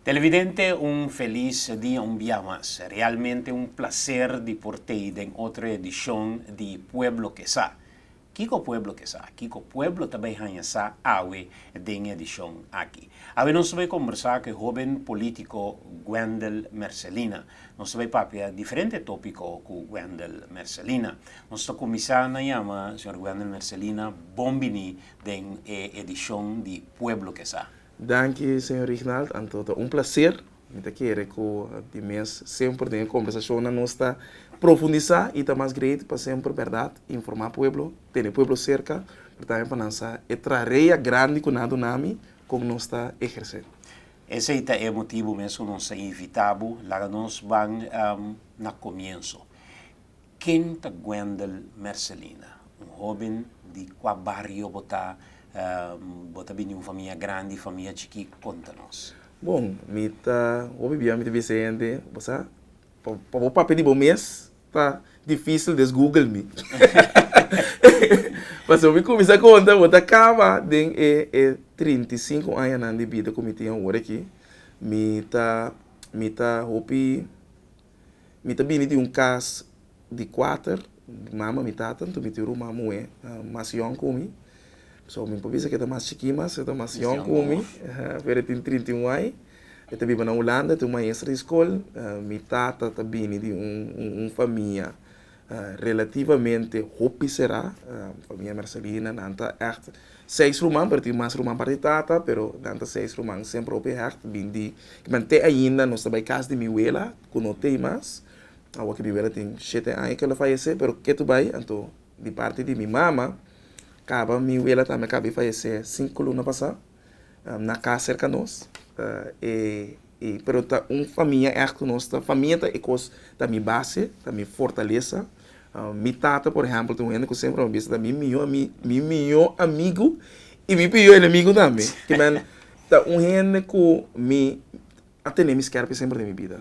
Televidente un felis dia un bia mas. Realmente un placer di por t'ei den otro edicion di Pueblo ke sa. Kiko Pueblo ke sa? Kiko Pueblo ta bay haña sa awe den edicion aki? Awe nos ta bay combersa ku e hoben politico Wendel Mercelina. Nos ta bai papia diferente tópiko ku Wendel Mercelina. Nos ta kuminsá na yama señor Wendel Mercelina bon biní den e edishon di Pueblo Kesa. Danki señor Rignald, anto ta un plaser. Mi ta kere ku di mes semper den e kombersashonnan nos ta profundisá i ta mas greet pa semper bèrdat, informá pueblo, tene pueblo serka, pero tambe pa lansa e trarea grandi ku nan a duna mi kon nos ta ehersé. Esei ta e motibu mes ku nos a invitá bo, laga nos ban na komienso. Ken ta Wendel Mercelina? Un hóben di kua bario bo ta? Bo ta bini un famia grandi, famia chikí? Konta nos. Bon, mi ta hopi bia mi ta bisa hende, bo sa, pa bo papia di bo mes. Ta difícil des Google mi. Pasobra mi cuminsa conta bo ta caba den e e trinta y cinco añanan di bida cu mi tin awor aki. Mi ta mi ta hopi mi ta bini di un cas di cuater mama mi tata anto mi tin ruma muhe mas yong cu mi so mi no por bisa cu e ta mas chiki mas e ta mas yong cu mi pero e tin trinta y un ai. Mi ta biba na Hulanda, ta un maestra di skol. Mi tata ta bini di un famia relativamente hopi será, famia Mercelina. Nan ta ègt seis ruman, pero tin mas ruman parti tata, pero nan ta seis ruman semper hopi hègt. Bin di kiman te ainda nos ta bai kas di mi wela ku no ta ei mas. Awa ku mi wela tin shete aña ku el a fayesé, pero ke ta bai. Anto di parti di mi mama kaba mi wela tambe kaba e fayesé sinku luna pasá. na cas cerca nos y pero ta un famia echt cu nos ta famia ta e cos ta mi base ta mi fortalesa mi tata por ejemplo ta un hende cu semper a bisa ta mi miyo ami mi miyo amigo y mi piyo enemigo tambe ki man ta un hende cu mi a tene mi skerpi semper den mi bida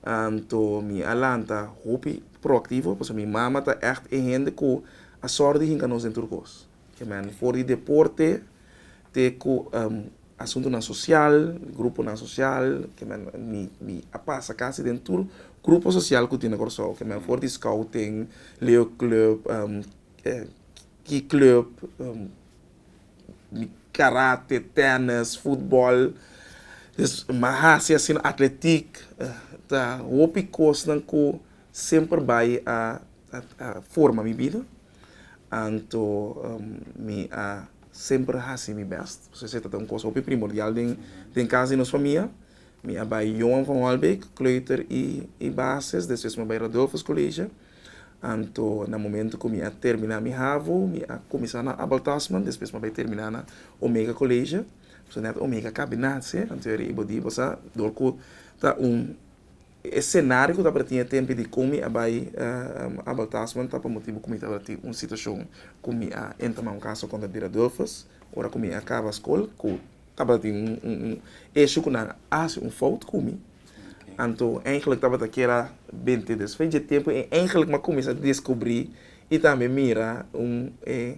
anto mi a lanta hopi proactivo pasobra mi mama ta echt e hende cu a sor di hinca nos den tur cos. Amen. For di deporte te ku asuntunan sosial, gruponan sosial, amen, mi a pasa kasi den tur grupo sosial ku tin na Kòrsou, amen, for di skouting, leo klùp, ki klùp, karate, tènnis, futbòl, mi hasi asina atletik, ta hopi kosnan ku semper bai a forma mi bida. Anto mi a semper hasi mi bèst pasobra esei tabata un kos hopi primordial den kas di nos famia. Mi a bai Johan van Holbeek Kleuter i Basis, despues mi a bai Rodulfus College. Anto na momento ku mi a termina mi havo mi a kuminsá na Abel Tasman, despues mi a bai terminá na Omega College, pasobra nèt Omega a kabe nada anto e riba di bo sa dor ku ta un. E escenario cu tabata tin e tempi di con mi a bay Abel Tasman ta pa motibo cu mi tabata tin un situacion cu mi a enta na un caso contra Dira Doelfus ora cu mi a caba scol cu tabata tin un issue cu nan a haci un fout cu mi anto eindelijk tabata kier a binte despues dje tempo y eindelijk mi a cuminsa descubri y tambe mira un e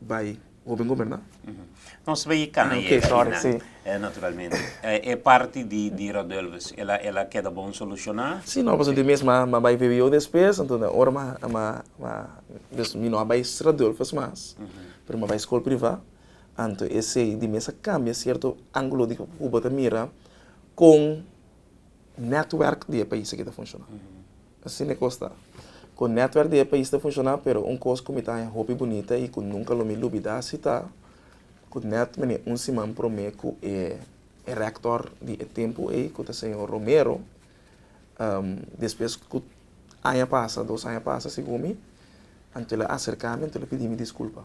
Bai hopi goberna. Nos bai e cana yega ahi nan eh naturalmente e parti di Rodulvus el a keda bon soluciona? Si no pasobra mi mes mi a bai VWO despues entonces ora mi a dus mi no a bai Rodulvus mas pero mi a bai school priva anto esey di mes a cambia cierto angulo di cu bo ta mira con network di e pais aki ta funciona. Asina e kos ta. Kon netwerk di e pais ta funshoná, pero un kos ku mi ta haña hopi bunita i ku nunka lo mi lubidá si ta ku nèt mene un siman promé ku e rèktòr di e tempu ei ku ta señor Romero, despues ku aña pasa, dos aña pasa segun mi, anto el a aserká mi, anto el a pidí mi diskulpa.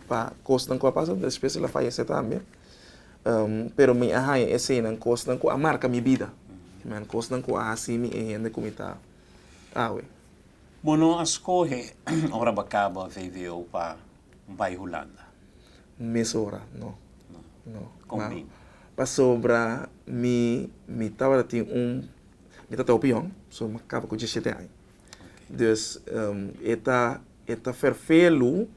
Pa kosnan ku a pasa un despues el a fayesé tambe. Pero mi a haña e señanan, kosnan ku a marka mi bida. Amen. Kosnan ku a hasi mi e hende ku mi ta awe. Bo no a skohe ora bo a kaba vvo pa bai Hulanda? Mesora no. No. Kon mi? Pasobra mi mi tabata tin un, mi ta tau pion, so mi a kaba ku diesisiete aña. Dus e ta. E ta ferfelu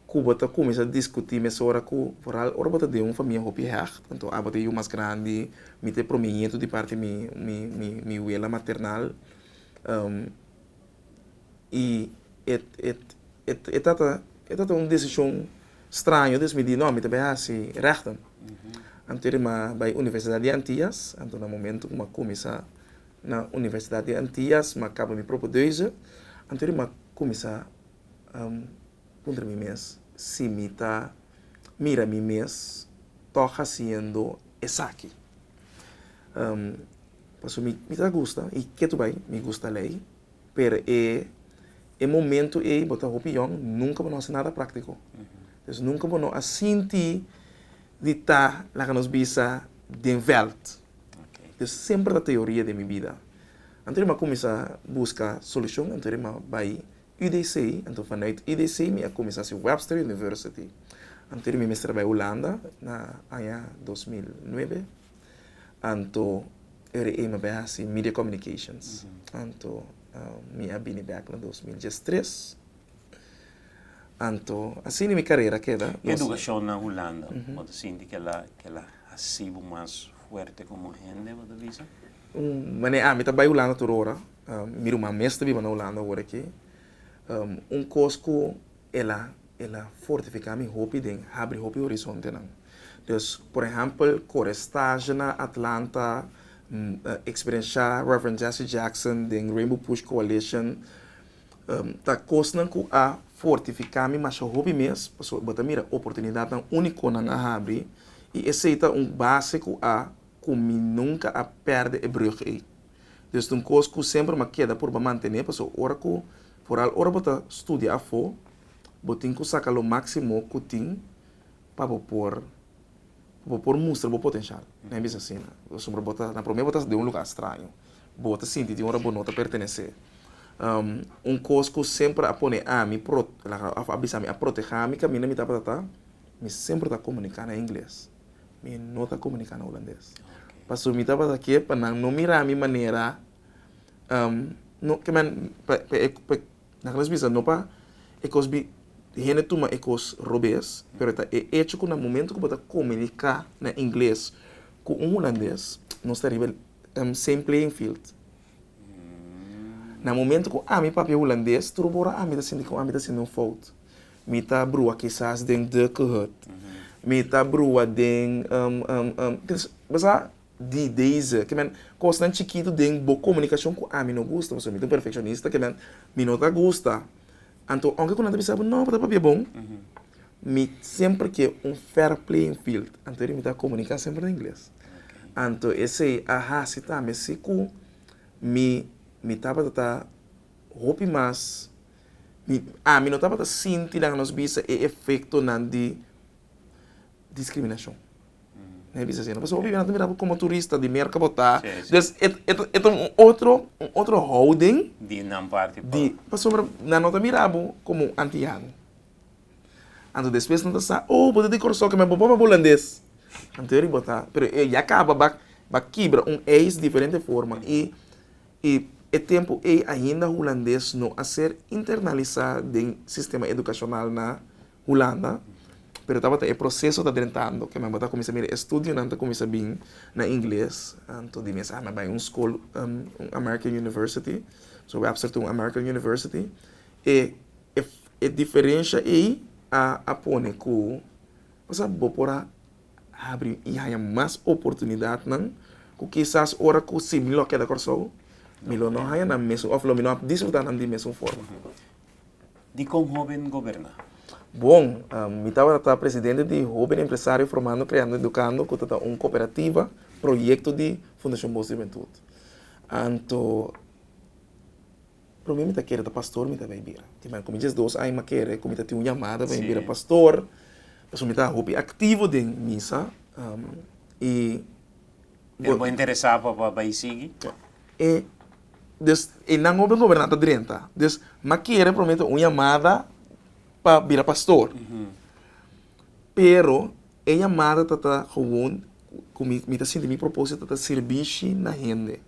ku bo ta kuminsá diskutí mesora ku foral ora bo ta den un famia hopi hègt. Anto abo ta e yu mas grandi, mi ta e promiñetu di parti mi mi mi mi wela maternal. I e e e e tata e tata un desishon straño dus mi di nò mi ta bai hasi règtu. Anto e rimá bai Universidat di Antias, anto na momentu ku mi a kuminsá. Na Universidad di Antillas ma kaba mi propio deuze, anto riba ma kuminsá puntra mi mes si mi ta mira mi mes tòg hasiendo esaki. Pasobra mi mi ta gusta i ke tur bai mi gusta lei, pero e e momento ei bo ta hopi yòn, nunka bo no hasi nada práktiko. Nunka bo no a sinti di ta, laga nos bisa, den vèlt. Yo semper ta teoria den mi bida. Anto di mi a kuminsá buska solushon anto di mi a bai UDC, anto vanuit UDC mi a kuminsá hasi Webster University. Anto di mi mester a bai Hulanda na aña dos mil nuebe, anto ere ei mi a bai hasi Media Communications. Anto mi a bini bèk na dos mil diestres. Anto, asina mi karera a keda. Nos. Edukashon na Hulanda, bo ta sinti ke la, ke la hasi bo mas fuerte komo hende, bo ta bisa? Un mane, ami ta bai Hulanda tur ora. Mi ruman mes ta biba na Hulanda ora aki. Un kos ku el a, el a fortifiká mi hopi den habri hopi horizontenan. Pues, por ehèmpel, kore staje na Atlanta, eksperenshá Rev. Jesse Jackson den Rainbow Push Coalition, Ta kosnan ku a fortifiká mi masha hopi mes, pasobra bo ta mira oportunidatnan únikonan a habri, i esei ta un base ku a ku mi nunka a pèrdè e brùg ei. Dus ta un kos ku semper mi a keda por bo mantené, pasobra ora ku, foral ora bo ta studia afó, bo tin ku saka lo máksimo ku tin pa bo por. Bo por mustra bo potenshal. Mi a bisa asina. Pasobra bo ta, na promé bo ta den un lugá straño. Bo ta sinti di ora bo no ta pertenesé. Un kos ku semper a pone ami pro, òf a bisa mi, a protehá mi kaminda mi tabata ta, mi semper ta komuniká na ingles. Mi no ta komuniká na hulandes. Pasobra mi tabata ke pa nan no mirá mi manera, no, ke men, pa e. Nan klas bisa no pa e kos bi di hende tuma e kos robes, pero ta e echo ku na momento ku bo ta komuniká na ingles ku un hulandes nos ta riba em same playing field. Na momento ku ami papia hulandes tur ora ami ta sinti ku ami ta hasiendo un fout. Mi ta brua kisas den de kehut. Mi ta brua den em em em. Bo sa. di deze kimen kosnan chikitu den bo komunikashon ku ami no gusta pasobra mi ta un perfekshonista kimen mi no ta gusta anto aunke ku nan ta bisa bo no bo ta papia bon mi semper ke un fair playing field anto eri mi ta komunika semper na ingles anto esei a hasi ta mi si ku mi mi tabata ta hopi mas mi ami no tabata sinti laga nos bisa e efektonan di discriminacion nan e bisa asina pasobra bo biba nan ta mira bo como turista di Merca bo ta dus e e ta un otro un otro houding di nan parti di pasobra nan no ta mira bo como un antiano anto despues nan ta sa oh bo ta di Kòrsou keme bo papá hulandes en teoria bo ta pero e ya caba ba ba kibra un eis diferente forma y y e tempo ey ainda hulandes no a ser internalisa den sistema educacional na Hulanda, pero tabata e proseso ta drentando ke nan bo ta kuminsá mira e studionan ta kuminsá bin na ingles, anto di mes ami a bai un skol, un American University, so awor a ser ta un American University, e e diferensha ei a pone ku pasá bo por a habri i haña mas oportunidatnan ku kisas ora ku si mi lo a keda Kòrsou mi lo no haña nan mesun òf lo mi no a disfrutá nan di mesun forma. di kon hóben goberná. Bon, mi tabata ta presidente di Hóben Empresario Formando, Creando, Educando ku ta ta un kooperativa proyekto di Fundashon Bos di Hubentud. Anto promé mi ta kere ta pastor mi ta bai bira. Kiman ku mi djes dos aña mi a kere ku mi ta tin un yamada pa mi bira pastor, pasobra mi ta hopi aktivo den misa i. E bo interesá pa pa bai sigui? E des e nan hopi goberná ta drenta. Des m'a kere promete un yamada pa bira pastor. Pero e yamada ta ta gewoon ku mi mi ta sinti mi propósito ta sirbishi na hende.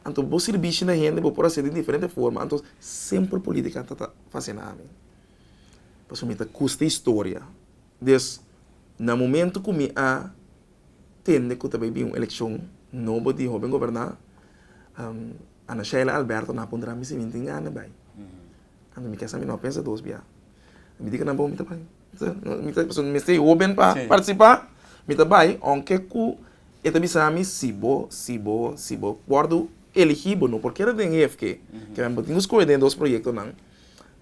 Anto bo sirbishi na hende bo por hasi di diferente forma, anto semper politika ta ta fasina mi. Pasobra mi ta gusta historia. Des na momento cu mi a tende cu ta bay bin un eleccion nobo di hoben goberna, Ana Sheila Alberto na a pondra mi si mi tin gana bay. Anto mi kesa mi no a pensa dos bia. Mi di cu nan bo mi ta bay. Mi ta pasobra mi mester e hoben pa participa. Mi ta bay aunke cu e ta bisa mi si bo, si bo, si bo wordo eligi bo no por keda den hefke. Bo tin cu scoge den e dos proyectonan.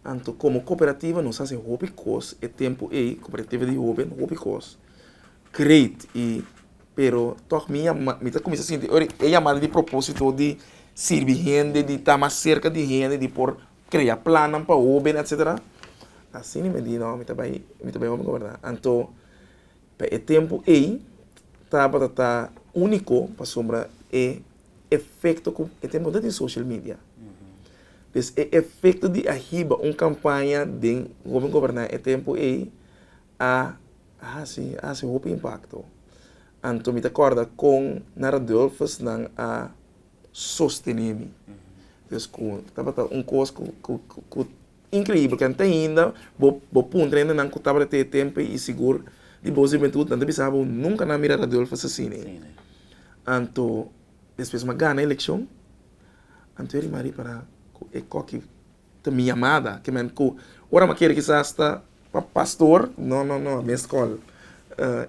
Anto komo koperativa nos hasi hopi kos e tempu ei, koperativa di hoben, hopi kos great i pero tòg mi a mi ta kuminsá sinti ora e yamada di propósito di sirbi hende di ta mas serka di hende di por krea plannan pa hoben etcetera asina mi di no mi ta bai mi ta bai hopi goberná anto pa e tempu ei tabata ta úniko pasobra e efekto ku e tempu ta tin social media. Des e efekto di a hiba un kampaña den Hopi Goberná e tempu ei a hasi, a hasi hopi impakto. Anto mi ta kòrda kon na Radulfus nan a sostené mi. Des ku tabata un kos ku Increíbel can ta ainda bo bo puntra ainda nan cu tabata te tempe y sigur di bo juventud nan ta bisa bo nunca nan a mira Radulfo asasine anto despues m'a gana eleccion anto e rimari para cu e coki ta mi yamada ki men cu ora m'a kere kisas hasta pa pastor no no no mi escol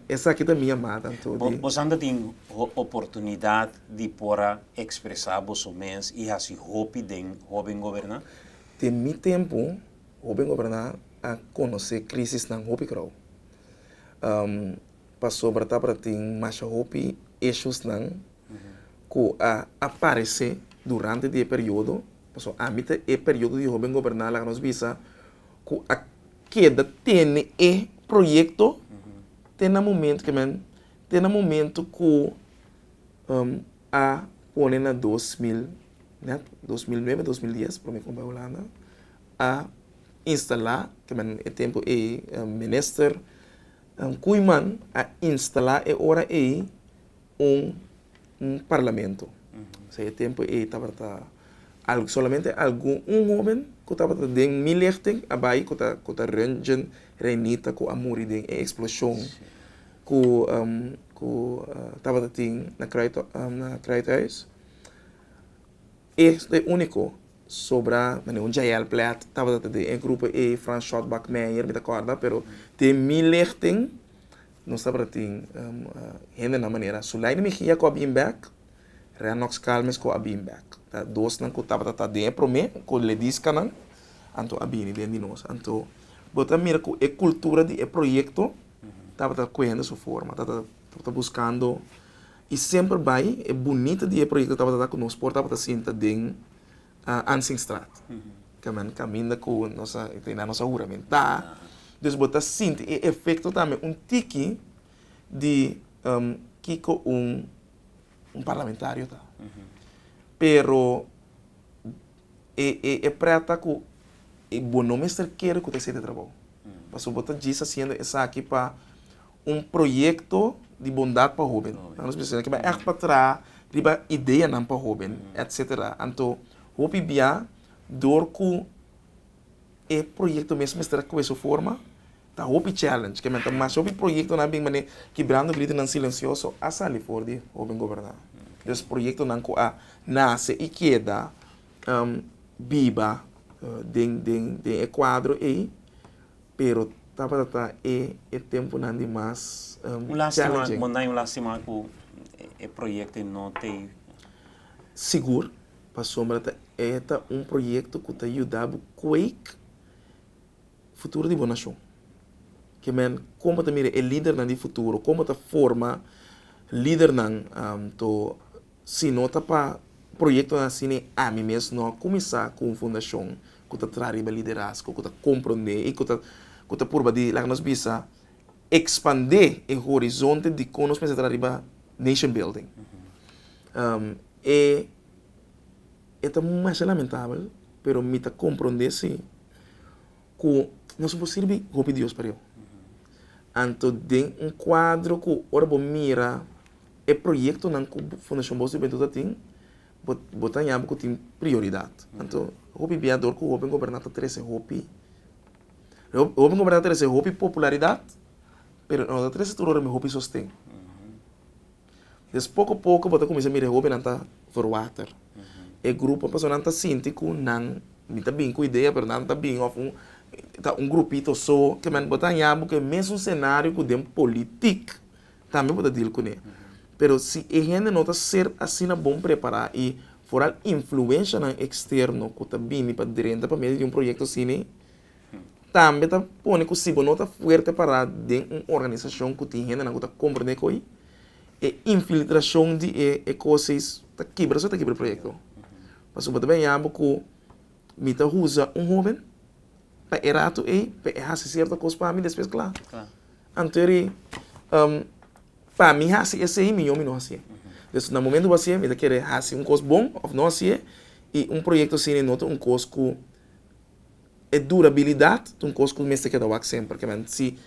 esaki ta mi yamada anto di. Bo san ta tin oportunidad di por a expresa boso mes y haci hopi den hoben goberna. Den mi tempu, hopi goberná a konosé krísisnan hopi grou. Pasobra tabata tin masha hopi eshusnan ku a aparesé durante di e periodo. Pasobra ami ta e periodo di hopi goberná laga nos bisa ku a keda tene e proyekto te na momentu ke men te na momentu ku. a pone na dos mil nèt, dos mil nuebe, dos mil dies promé kompa Hulanda a instalá ke men e tempu ei minister Koeiman a instalá e ora ei un un parlamento. P'esei e tempu ei tabata al solamente algun un hóben ku tabata den mi lihting a bai ku ta ku ta Röntgen Reinita ku a muri den e eksploshon. ku ku tabata tin na Kruithuis. E ta e úniko sobra na nivel JL Plat. Tabata ta den e grupo e Frans Shotbak Meyer mi ta kòrda, pero den mi lichting nos tabata tin hendenan manera Sulaini Mejia ku a bin bèk, Renox Calmes ku a bin bèk. Ta dosnan ku tabata ta den e promé ku Lediskanan anto a bini den di nos. Anto bo ta mira ku e kultura di e proyekto. tabata kuhendo su forma, tabata buskando i semper bai e bunita di e proyekto tabata ta ku nos por tabata sinta den Ansinstraat kaminda kaminda ku nos a tene nos a huramentá. Dus bo ta sinti e efekto tambe un tiki di kiko un un parlamentario ta. Pero e e e prèta ku bo no mester kere ku ta hasiendo e trabou. Pasobra bo ta djis hasiendo esaki pa un proyekto di bondat pa hóben. Nan nos mester hasiendo esaki ègt pa traha riba ideanan pa hóben, etcetera. Anto hopi bia dor ku. E proyekto mes mester a koe su forma, ta hopi challenge ke men ta masha hopi proyektonan bin manera kibrando gritonan silensioso a sali for di hoben gobernan. Des proyektonan ku a nase i keda biba den den den e kuadro ei pero tabata ta e e tempunan di mas challenging. Bo na bai un lastima ku e proyekto ei no tei. Sigur. Pasobra ta e ta un proyekto ku ta yuda bo kueik futuro di bo nashon. Ke men kon bo ta mira e lidernan di futuro, kon bo ta forma lidernan to si no ta pa proyektonan asina i ami mes no a kuminsá ku un fundashon ku ta traha riba liderazgo, ku ta komprondé i ku ta ku ta purba di laga nos bisa ekspandé e horizonte di kon nos mester traha riba nation building. E e ta masha lamentabel, pero mi ta comprende si cu nos por sirbi hopi Dios pario. Anto den un cuadro cu ora bo mira e proyectonan cu Fundacion Bos di Hubentud a tin, bo bo ta yaba cu tin prioridad. Anto hopi bia dor cu hopi goberna ta trece hopi, hopi goberna ta trece hopi popularidad, pero no ta trece tur ora mi hopi sosten. Des poko poko bo ta kuminsá mira e hóbennan ta verwater. E grupo personanan ta sinti ku nan, mi ta bin ku idea pero nan ta bin òf un ta un grupito so ke men bo ta haña bo ku e mesun senario ku den politik tambe bo ta deal kuné. Pero si e hende no ta ser asina bon prepará i foral influenshanan eksterno ku ta bini pa drenta pa medio di un proyekto asini, Tambe ta pone ku si bo no ta fuerte pará den un organisashon ku tin hendenan ku ta komprendé ko'i, e infiltrashon di e e kos'eis ta kibra so ta kibra e proyekto. Pasobra bo ta bin haya bo ku mi ta usa un hóben pa e ratu ei pa e hasi sierto kos pa mi despues kla. Anto ri pa mi hasi esei mihó mi no hasié. Pues na momentu bo hasié mi ta kere hasi un kos bon òf no hasié i un proyekto asina no ta un kos ku. E durabilidad ta un cos cu mester keda wak semper. Kilamentd si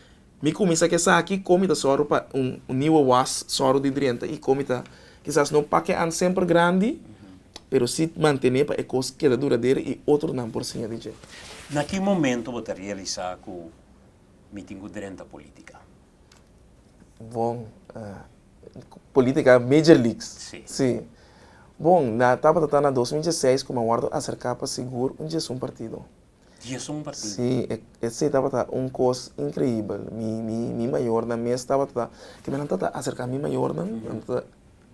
mi cuminsa cu esaki, con mi ta zorgo pa un niuwe was zorgo di drienta y con mi ta kisas no pakean semper grandi, pero si mantene pa e cos keda duradero y otronan por siña di dje. Na ki momento bo ta realisa cu mi tin cu drenta politica? Bon. Política Major Leagues. Sí. Sí. Bon, na tabata ta na 2016 cu me wordo acerca pa sigur un djesun partido. Djesun partido? Sí, e, esey tabata un cos increíbel. Mi, mi, mi mayornan mes tabata, cu menan ta ta acerca mi mayornan, nan ta,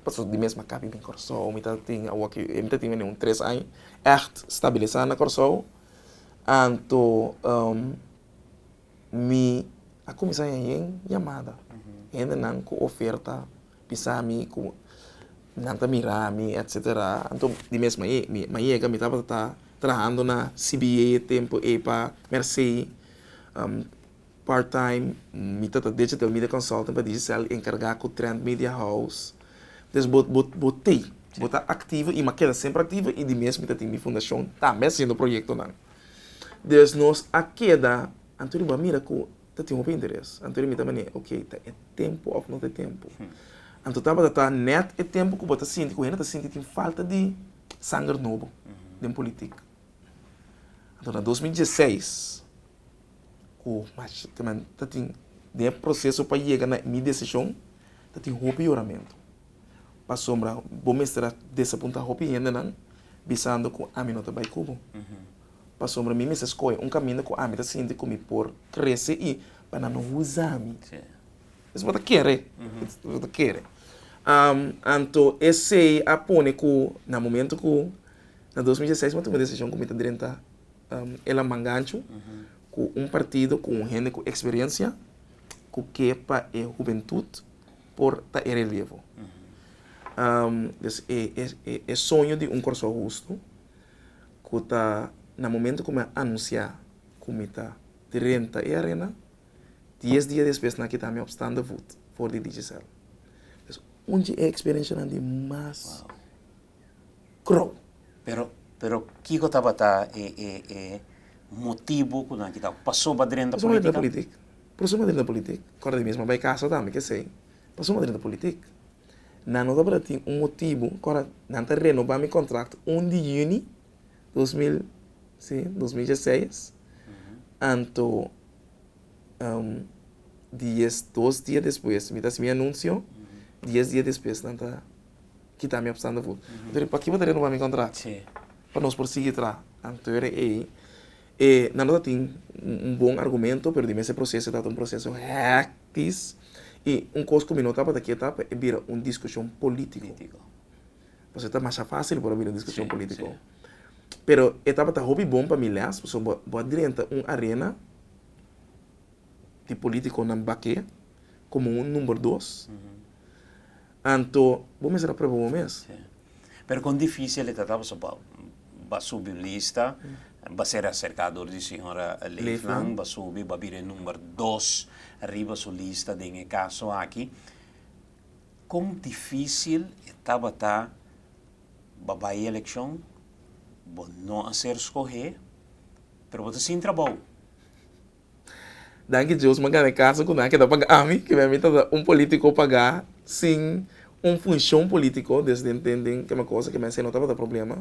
pasobra di mesma cabo mi bin Curaçao, mi ta tin awo aki, mi ta tin wende un tres aña echt stabiliza na Curaçao, anto. mi a kuminsá ña yen yamada. Hendenan ku oferta bisa mi ku nan ta mira mi etsetera. Anto di mes mayega mi tabata ta trahando na CBA e tempu ei pa Mersey part-time. Mi ta ta digital media consultant pa Digicel enkargá ku Trend Media House. Entonces bo bo bo tei, bo ta aktivo i mi a keda semper aktivo i di mes mi ta tin mi fundashon tambe hasiendo proyektonan. Des nos a keda, anto riba mira ku ta tin hopi interes. Anto riba mi ta manera, ok, ta e tempu òf no ta e tempu. Anto tabata ta nèt e tempu ku bo ta sinti ku hende ta sinti tin falta di sanger nobo den politik. Anto na dos mil dieseis, ku ta tin den e proseso pa yega na mi desishon, ta tin hopi yoramentu. Pasobra bo mester a desapunta hopi hendenan, bisando ku ami no ta bai ku bo. Pasobra mi mester skohe un kaminda ku ami ta sinti ku mi por krese i pa nan no huza mi. Esei bo ta kere? Bo ta kere. Anto esei a pone ku na momentu ku na dos mil dieseis mi a tuma un desishon ku mi ta drenta e laman ganchu ku un partido ku un hende ku eksperensia ku ke pa e hubentut. por ta e relevo. E soño di un Kòrsou hustu ku ta na momentu ku mi a anunsiá ku mi ta renta e arena, dies dia despues nan a kita mi op stande voet for di Digicel. Un di e eksperenshanan di mas. Kro. Pero, pero kiko tabata e, e, e motibu ku nan kita pasoba drenta Pasoba drenta politika? politik. Pasoba drenta politik. Kòrda di mi mesmu a bai kasa tambe kesei. Pasoba drenta politik. Nan no tabata tin un motibu. Kòrda nan ta renobá mi kontrakt un di yüni dos mil, si, dos mil dieseis, anto dies dos dia despues mi ta hasi mi anunsio, dies dia despues nan ta. kita mi apsando fu. Anto p'aki bo ta renova mi kontrato? Pa nos por sigui traha. Anto e ei e nan no ta tin un bon argumento pero di mester proseso e tabata un proseso hèktis i un kos ku mi no tabata ke ta e bira un diskushon polítiko pasobra e ta masha fásil por a bira un diskushon polítiko pero e tabata hopi bon pa mi lès pasobra bo a drenta un arena di polítikonan bak'é komo un number dos. Anto bo mester a prueba bo mes. Si. Pero con dificil e ta ta pasobra bo ba subi un lista, ba ser acerca door di señora Leefland, ba subi ba bira e number dos riba su lista den e caso aki. Con dificil e tabata ba bay eleccion, bo no a ser scoge, pero bo ta sin trabao. Danki Dios mi a gana e casa cu nan a keda paga ami, cu ami ta un politico paga sin un funcion politico den den keme cosa cu mester no tabata problema,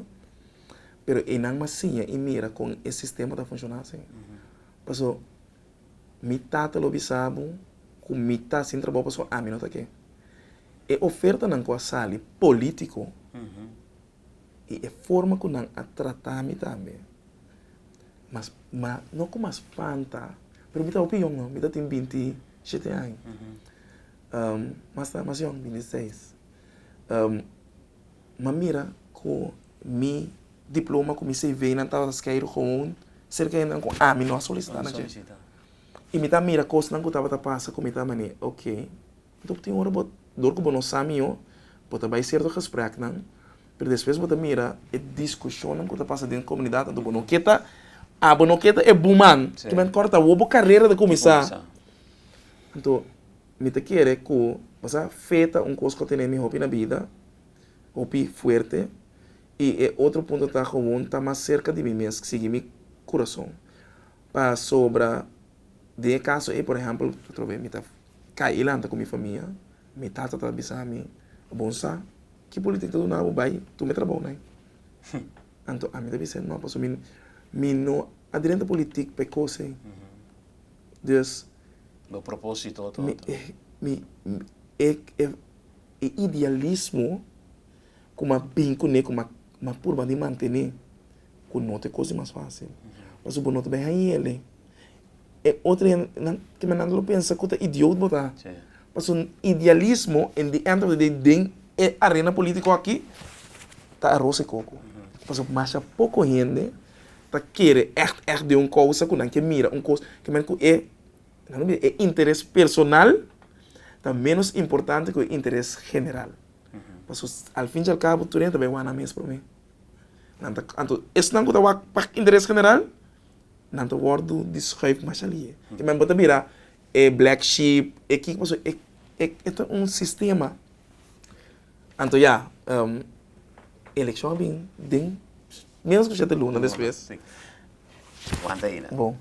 pero e nan mi a siña y mira con e sistema ta funciona asin. Pasobra mi tata lo bisa bo cu mi ta sin trabajo pasobra ami no ta ke. E ofertanan cu a sali politico. y e forma cu nan a trata mi tambe. Mas, ma, no cu mas fanta, pero mi ta hopi yong no, mi ta tin binti shete aña. mas ta mas yong, binti seis. ma mira cu mi diploma cu mi cvnan tabata skeiro gewoon cerca hendenan cu ami no a solicita na dje. Y mi ta mira cosnan cu tabata pasa cu mi ta mane, ok. Dor tin ora bo, dor ku bo no sa mihó, bo ta bai sierto gespreknan, pero despues bo ta mira e diskushonnan ku ta pasa den komunidat, anto bo no ke ta a bo no ke ta e buman, simplemente kòrda ta wou bo karera ta kuminsá. Anto mi ta kere ku bo sa fe ta un kos ku tene mi hopi na bida, hopi fuerte, i e otro punto ta, Gewoon ta mas serka di mi mes sigui mi kurason, pasobra. den e caso ey por ehempel atrobe mi ta cay elanta cu mi famia mi tata ta bisa mi bon sa ki politic ta duna bo bay tuma e trabao na ey anto ami ta bisa no pasobra mi no a drenta politic pa e cos ey dus bo proposito otro mi mi e e idealismo cu mi a bin cu ne cu mi a purba di mantene cu no ta e cos di mas facil pasobra bo no ta bay hañele. E otro hende te manda nan lo pensa ku ta idiot bo ta. Paso idealismo in the end of the day den e arena politico aki ta aros e koko. Paso masha poko hende ta kere echt echt den un kousa ku nan ke mira un kos ke men ku e e interes personal ta menos importante ku e interes general. Paso al fin i al kabo tur hende ta bai wana mes prome. Nan ta anto esnan ku ta wak pa interes general nan ta wordo deschuif mas alie e men bo ta bira e black sheep e kiko paso e e ta un sistema anto ya elekshon a bin den menos ku shete luna despues Wanta aina bo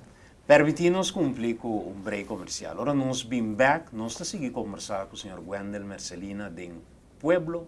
permiti nos kumpli ku un break komersial ora nos bin bek nos ta sigui kombersá ku señor Wendel Mercelina den Pueblo.